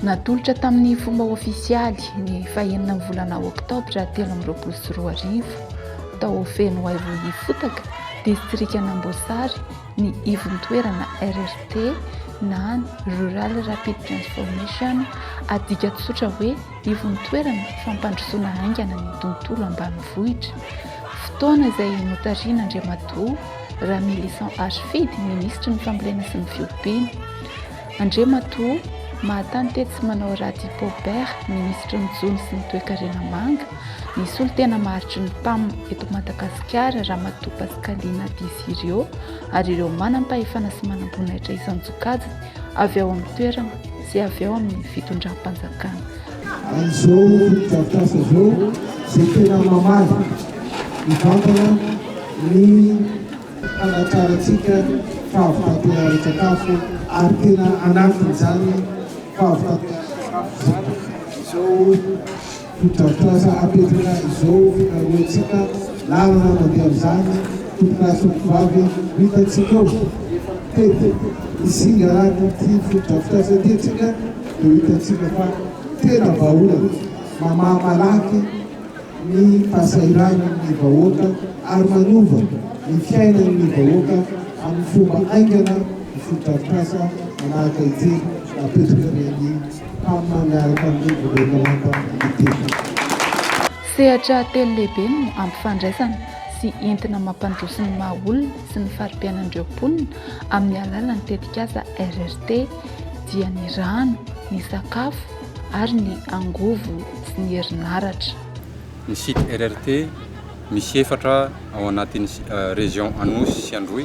Natolotra tamin'ny fomba ofisialy ny fahenina ny volana oktobra telo amby roapolo sy roa arivo tao Fenoaivo Ifotaka, distrikan'Amboasary ny ivon-toerana RRT na Rural Rapid Transformation, adika tsotra hoe Ivontoerana fampandrosoana haingana ny tontolo ambanivohitra, fotoana izay notarihina Andriamatoa Ramilison Achifidy, Minisitry ny Fambolena sy ny Fiompiana. Andriamatoa Mahatany Tetsimanao Radi Paubert, Minisitry ny Jono sy ny Toekarena Manga, ny Solontena Maharitry ny Pam eto Madagasikara Ramatoa Pascaline Disirio ary ireo manam-pahefana sy manam-boninahitra isan-tsokajiny avy ao amin'ny toerana sy avy ao amin'ny fitondram-panjakana. Amin'izao fotodrafitrasa izao izay tena mamaly mivantana ny hanatrarantsika fahavitantena ara-tsakafo ary tena anatin'izany fahavitantena ara-tsakafo izany izao Fotodrafitrasa apetraka izao fikarohantsika lalana mandeha amin'izany tompon'asa tovovavy no hitantsika ao. Tety Isingaran'ity fotodrafitrasa ity antsika dia hitantsika fa tena vahaolana, mamaha malaky ny fahasahiranan'ny vahoaka ary manova ny fiainan'ny vahoaka amin'ny fomba haingana ny fotodrafitrasa manahaka ity napetraky ny an'i Mifanaraka amin'ny governemanta Libyana. Sehatra telo lehibe no ampifandraisana sy entina mampandroso ny maha olona sy ny fari-piainan'ireo mponina amin'ny alalan'ny tetikasa RRT, dia ny rano, ny sakafo ary ny angovo sy ny herinaratra. Ny site RRT misy efatra ao anatin'ny Région Anosy sy Androy.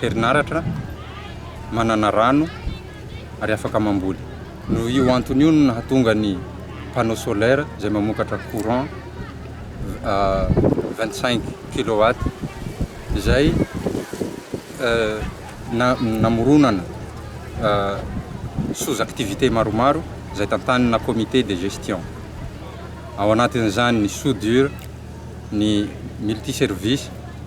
herinaratra, manana rano ary afaka mamboly. Noho io antony io no nahatonga ny panneau solaire izay mamokatra courant vingt cinq kilowatt izay namoronana sous activités maromaro izay tantanina comité de gestion. Ao anatin'izany ny soudure, ny multi service.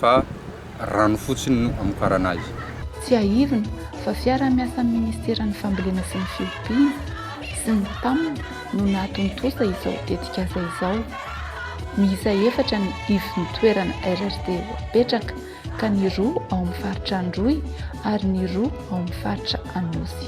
fa rano fotsiny no amokarana azy. Tsiahivina fa fiaraha-miasan'ny Ministeran'ny Fambolena sy ny Fiompiana sy ny Pam no nahatontosa izao tetikasa izao. Miisa efatra ny ivon-toerana RRD voapetraka ka ny roa ao amin'ny faritra Androy ary ny roa ao amin'ny faritra Anosy.